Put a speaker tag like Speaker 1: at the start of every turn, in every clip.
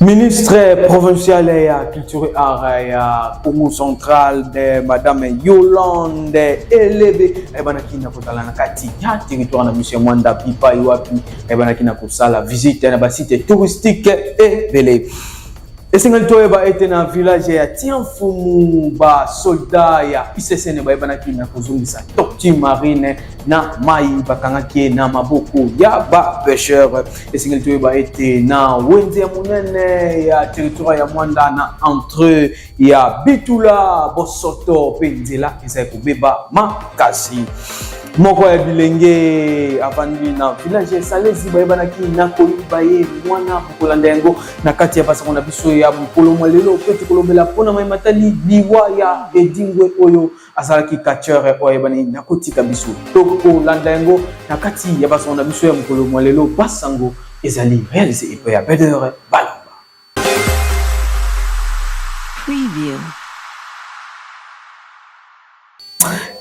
Speaker 1: Ministre provincial ya culture et art ya Congo central de madame Yolande Elebe ayebanaki na kozala na kati ya territoire na biso ya Mwanda bipai wapi ayebanaki na kosala visite na basite touristique ebele esengeli toyeba ete na village ya tiamfumu basoldat ya issn bayebanaki na kozongisa tortue marine na mai bakangaki ye na maboko ya bapecheur esengeli toyeba ete na wenze ya monene ya territoire ya mwanda na entre ya bitula bosoto mpe nzela ezali kobeba makasi moko ya bilenge avandi na village ya esalezi bayebanaki na koyiba ye mwana kokolanda yango na kati ya basango na biso ya mokolo mwa lelo mpe tokolobela mpo na mai matali liwa ya edingwe oyo azalaki catcheur oyo ayebani na kotika biso tokolanda yango na kati ya basango na biso ya mokolo mwa lelo basango ezali réalisé epai ya pedere balamba
Speaker 2: Preview.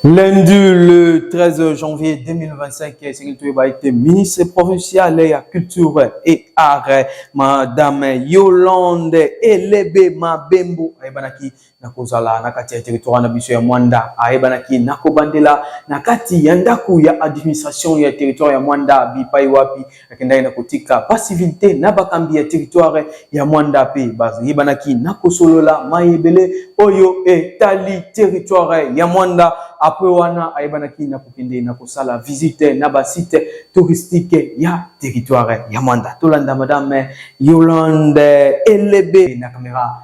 Speaker 1: Lundi le 13 janvier 2025, été ministre provincial et à culture et art, madame Yolande Elebe Mabembo, na kozala na kati ya territoire na biso ya Mwanda ayebanaki na kobandela na kati ya ndako ya administration ya territoire ya Mwanda bipai wapi akendaki na kotika ba civil te na bakambi ya territoire ya Mwanda pe bayebanaki na kosolola mayebele oyo etali territoire ya Mwanda apre wana ayebanaki na kokende na kosala visite na ba site touristique ya territoire ya Mwanda tolanda madame Yolande Elebe na kamera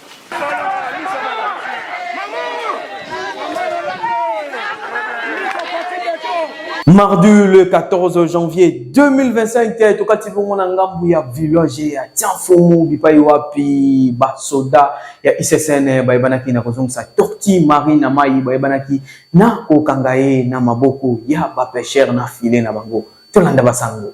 Speaker 1: Mardi le 14 janvier 2025 te tokati bongo na ngambu ya village ya Tianfomu bipai wapi basoda ya ICCN bayebanaki na kozongisa torti mari na mai bayebanaki na kokanga ye na maboko ya bapeshere na file na bango tolanda basango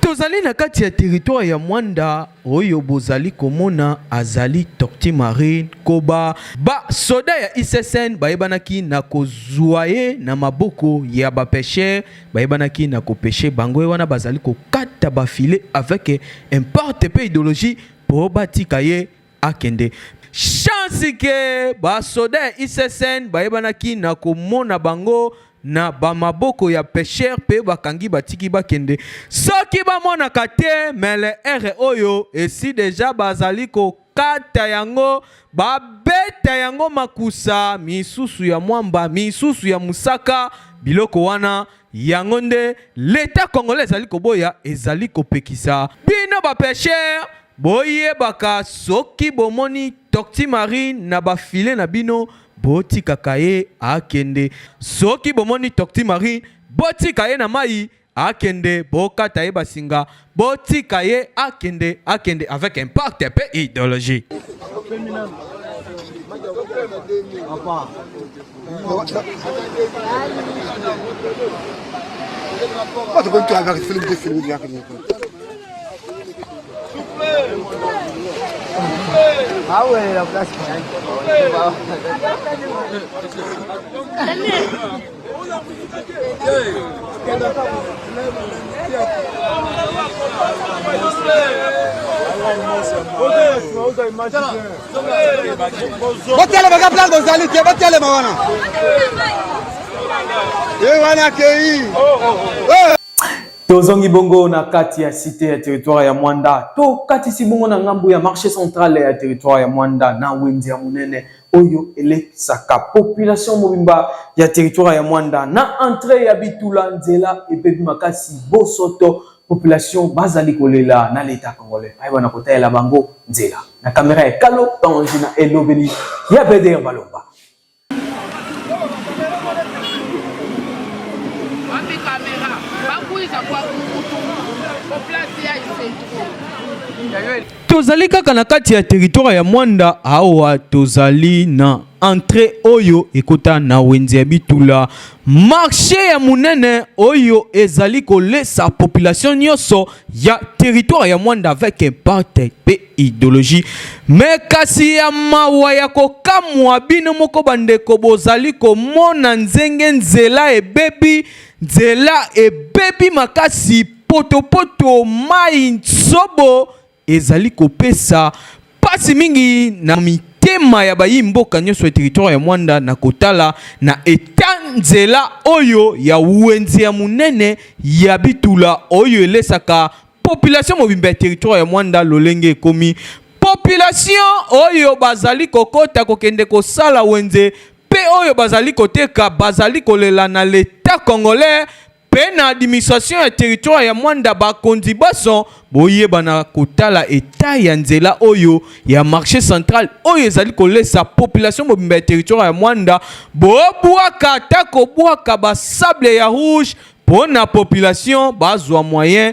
Speaker 2: tozali na kati ya teritware ya mwanda oyo bozali komona azali tokti marine koba basoda ya issn bayebanaki na kozwa ye na maboko ya bapeshere bayebanaki na kopeshe bango ye wana bazali kokata bafile avec importe mpe ideologie mpo batika ye akende chance ke basoda ya issn bayebanaki na komona bango na bamaboko ya pesher mpe bakangi batiki bakende soki bamonaka te mele ere oyo esi deja bazali ko kata yango babeta yango makusa misusu ya mwamba misusu ya mosaka biloko wana yango nde leta congolais ezali koboya ezali kopekisa bino bapeshere boyebaka soki bomoni tokti marine na bafile na bino botikaka ye akende soki bomoni tokti marine botika ye na mai akende bokata ye basinga botika ye akende akende avec impact pe idéologie Watu kwa
Speaker 3: mtu anataka film ndefu film yake ni kwa. Awe la kasi.
Speaker 1: botelema ka plan bozali te botelema wana ye wana akei tozongi bongo na kati ya site ya territoire ya mwanda tokatisi bongo na ngambo ya marché central ya territoire ya mwanda na wenze ya monene oyo elekisaka population mobimba ya territoire ya Mwanda na entree ya Bitula. Nzela ebebi makasi, bosoto population bazali kolela na leta congolais ayeba na kotalela bango nzela na kamera ya kalo tangi na elobeli ya beder balomba Population
Speaker 2: Tozali kaka na kati ya territoire ya Mwanda awa tozali na entre oyo ekota na wenze ya bitula marche ya monene oyo ezali kolesa population nyonso ya territoire ya mwanda avec impact mpe ideologie me kasi ya mawa ya kokamwa bino moko bandeko bozali komona nzenge nzela ebebi nzela ebebi makasi potopoto mai nsobo ezali kopesa mpasi mingi na mitema ya bayi mboka nyonso ya teritware ya Mwanda na kotala na etanzela oyo ya wenze ya monene ya bitula oyo elesaka population mobimba ya teritware ya Mwanda lolenge ekomi population oyo bazali kokota kokende kosala wenze mpe oyo bazali koteka bazali kolela na leta congolais Pe na administration ya territoire ya Mwanda ba konzi banso boyeba na kotala etat ya nzela oyo ya marché central oyo ezali kolesa population mobimba ya territoire ya Mwanda bobwaka ata kobwaka ba sable ya rouge pona population bazwa moyen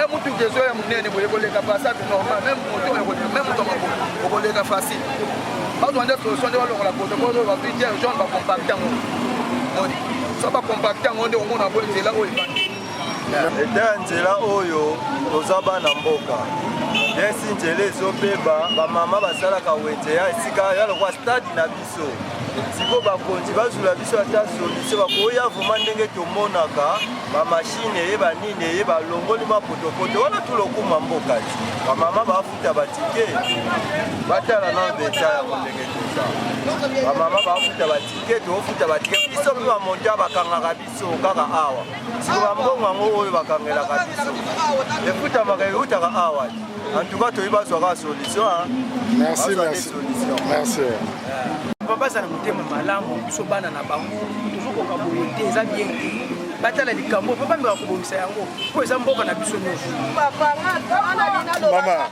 Speaker 4: e mutu kezo ya munene boye koleka passage normal meme moto okoleka meme moto mako okoleka facile bazwa nde solution nde balongola protocole oyo bazwi jerry john bacompacte yango moni so bacompacte yango nde omona bo nzela oyo ebandi eteya
Speaker 5: nzela oyo toza bana mboka nesi nzela ezobeba bamama basalaka wenze ya esika ya lokwa stade na biso siko bakonzi bazula biso ata solise bakoya vrema ndenge tomonaka bamashine eye banini eye balongoli mwa potopoto wana tulokuma mboka ti bamama bafuta batike batala na mpenza yango ndenge toza bamama bafuta batike tofuta batike biso mpe bamonta bakangaka biso kaka awa siko bambongo yango oyo bakangelaka biso efutamaka eutaka awa antuka toyi bazwa kaka solution merci
Speaker 4: merci merci baza
Speaker 6: na motema malamu biso bana na bango tozokoka boye te eza bien te batala likambo mpo bameka kobongisa yango mpo eza mboka na biso nyonso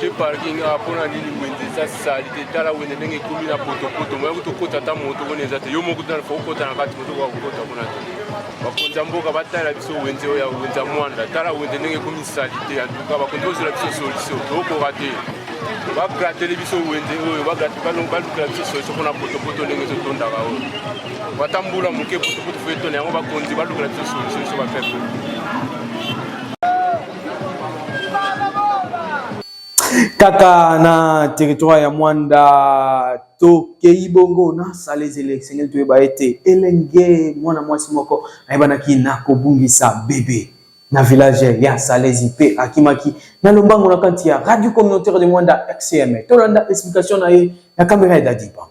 Speaker 7: te parking
Speaker 8: awa mpo na nini wenze eza sali te tala wenze ndenge ekomi na potopoto moya kutu okota ata moto koni eza te yo moko tana fo okota na kati moto okoka kokota kuna te bakonzi ya mboka batala biso wenze oyo ya wenze ya mwanda tala wenze ndenge ekomi sali te antuka bakonzi ozela biso solution tokoka te bagratele biso wenze oyo balukela biso solution mpona potopoto ndenge ezotondaka oyo bata mbula moke potopoto fo etona yango bakonzi balukela biso solution biso bapeple
Speaker 1: kaka na territoire ya mwanda tokei bongo na salezele esengeli toyeba ete elenge mwana mwasi moko ayebanaki na kobungisa bebe na village ya salezi mpe akimaki na lombango na kati ya radio communautaire de mwanda xcm tolanda explication na ye na kamera ya dadi bango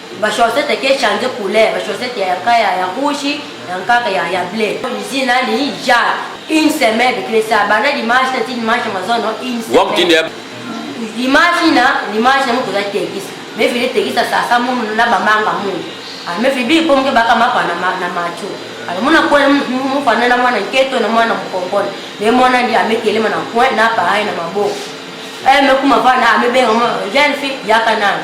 Speaker 9: ba chaussette ke change couleur ba chaussette ya kaya ya rouge ya nkaka ya ya bleu usine ali ja une semaine de clesa bana dimanche na ti dimanche mazono une semaine dimanche na dimanche na mutu za tekis mais vile tekis sa sa mu na ba manga mu ah mais vile bi pomke baka mapa na na macho alors mona ko mu fana na mwana nketo na mwana mkongola mais mwana ndi amekelema na coin na pareil na maboko eh mais kuma fana amebenga jeune fille yaka nani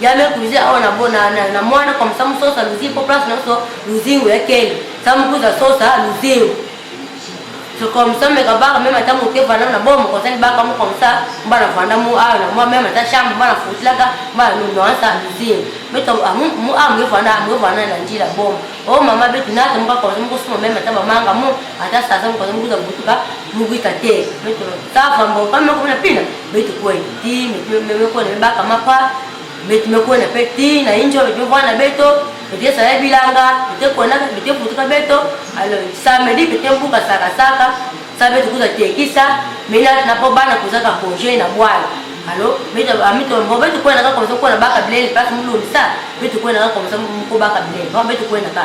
Speaker 9: Ya me kuze awa na bona na na mwana kwa msamu sosa luzi po place na so luzingo ya kele samu kuza sosa luzingo so kwa msamu me kabaka meme ata moke vanda na bomo kwa sani baka mo kwa msa mba na vanda mu awa na mwa meme ata shamba mba na futlaka mba na nuno ansa luzingo me to amu mu awa mo vanda mo vanda na njila bomo o mama betu na to mba kwa msamu kusuma meme ata bamanga mu ata sasa mo kwa msamu kuza butuka mu kuita te me to sava mbo kama kuna pina Beti kwe ti me pe me ko ne ba kama pa beti me ko ne pe ti na injo le jo vana beto beti sa ya bilanga beti ko na beti putuka beto alo sa me di beti mbuka saka saka sa beti kuza tekisa me na na po bana kuza ka projet na bwana alo beti ami to mbo beti ko na ka ko na baka blele pas mulumisa beti ko na ka ko mko baka blele beti ko na ka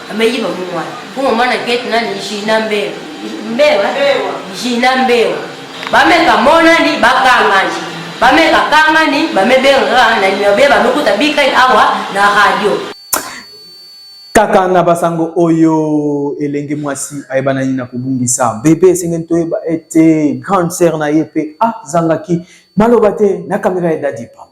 Speaker 10: Ameyiba
Speaker 9: mumwa. Kuma mwana keti nani Gina Mbewa. Mbewa? Gina Mbewa. Bameka monani bakangani. Bameka kangani bamebenga na nimero bie bamekuta bikani awa na radio.
Speaker 1: Kaka na basango oyo elenge mwasi ayebanani na kobungisa bebe esengeli toyeba ete grande sœur na ye mpe azangaki maloba te na kamera ya Daddy Pamba.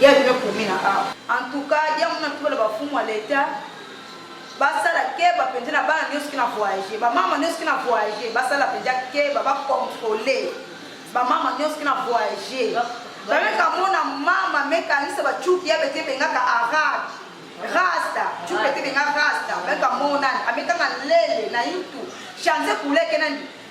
Speaker 11: Ya bino ekomi na awa. En tout cas yango na tubela ba fumu ya l'etat basala keba penza na bana nioso kina voyager ba mama nioso kina voyager basala penza keba ba contrôler ba mama nioso kina voyager bameka mona mama mekanisa ba chuki ya bete bengaka arad rasta chuki bete benga rasta bameka mona amekanga lele na yutu change kuleke nani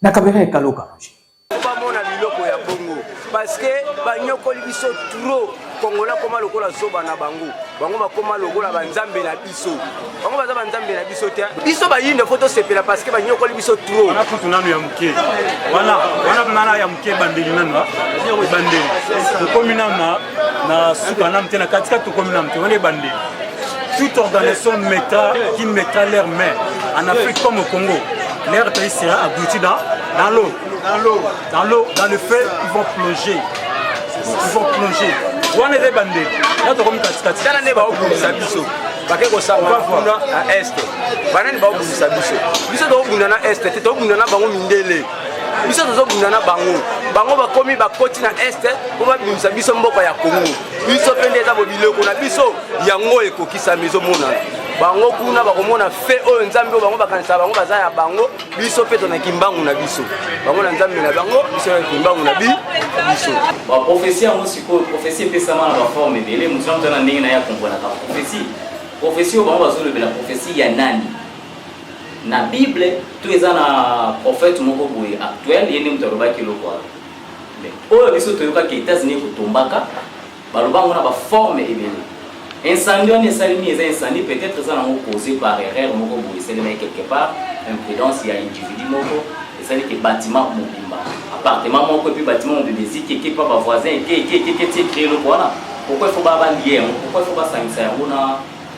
Speaker 1: Na kamera ekalo kaloji. Oba mona
Speaker 6: biloko ya bongo parce que banyokoli biso trop kongola koma lokola zoba na bango bango bakoma lokola banzambe na biso bango baza banzambe na biso te biso bayindo fo tosepela parce que banyokoli biso trop wana kutu nanu ya moke
Speaker 12: wana wana nana ya moke ebandeli nanu ebandeli okomi nanu na suka na mte na katikati tokomi na mte wana ebandeli toute organisation mettra qui mettra leur main en Afrique comme au Congo leur pays sera abouti dans dans l'eau dans l'eau dans l'eau dans le feu ils vont plonger ils vont plonger wana eza ebandeli na tokomi katikati tala nde baobundisa
Speaker 6: biso bake kosamba kuna na este banani baobundisa biso biso tokobunda na este te tokobunda na bango mindele biso tozobunda na bango bango bakomi bakoti na este mpo babimisa biso mboka ya kongo biso mpe nde eza bobiloko na biso yango ekokisami ezomonana bango kuna bakomona fe oyo nzambe oyo bango bakanisaka bango baza ya bango biso mpe tona kimbangu na biso bango na nzambe na bango biso na kimbangu na bi biso baprofesi yango
Speaker 13: sikoyo profesi epesama na baforme ebele mosu na moto na ndenge na ye akomponaka profesi profesi oyo bango bazolobela profesi ya nani na bible to eza na prophète moko boye actuel ye nde moto alobaki eloko wana mais oyo biso toyokaki états-unis ekotombaka baloba yango na baforme ebele incendie wana esalemi eza incendie peut-être eza nango causé par erreur moko boye esalemaki quelque part imprudence ya individu moko esali ke bâtiment mobimba appartement moko epuis bâtiment mobimba eziki eke mpa bavoisin eke eke eke eke tie créer eloko wana pourquoi il faut babalie yango pourquoi il faut basangisa yango na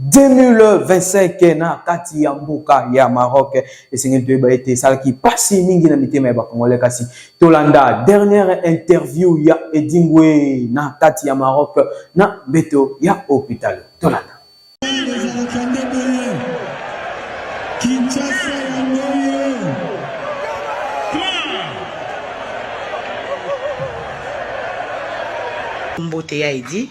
Speaker 1: 2025 na kati ya mboka ya Maroc esengeli toyeba ete esalaki pasi mingi na mitema ya bakongole kasi tolanda dernière interview ya Edingwe na kati ya Maroc na mbeto ya hôpital tolanda
Speaker 14: mbote ya edi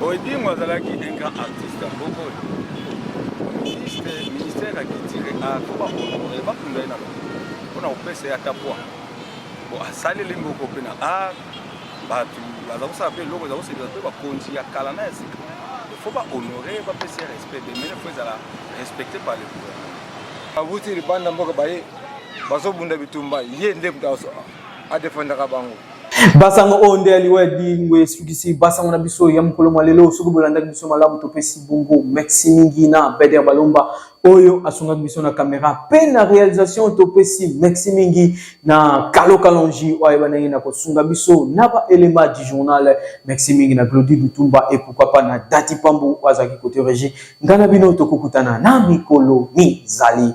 Speaker 5: Odingo azalaki un grand artiste ya mboka oyo ministre ministère ya culture ako bakonore bakunda ye na mpona kopesa ye ata poi po asaleli mboko mpe na art bato baza kosala mpe eloko eza kosepela mpe bakonzi ya kala na ya sika fo bahonore bapesa ye respect demene fo ezala respecte par le gouvernement abuti libanda mboka baye bazobunda bitumba ye nde a defendaka bango basango oyo oh,
Speaker 1: nde ya liwa ya dingwe esukisi basango na biso ya mokolo mwa lelo soki bolandaki biso malamu topesi bongo merci mingi na beder balomba oyo asungaki biso na kamera mpe na réalisation topesi merci mingi na kalo kalongi oyo ayeba ndenge na kosunga biso na baelema du journal merci mingi na glodi lutumba e pourkoi pas na dati pambu oyo azalaki kote régi ngai na bino tokokutana na mikolo mizali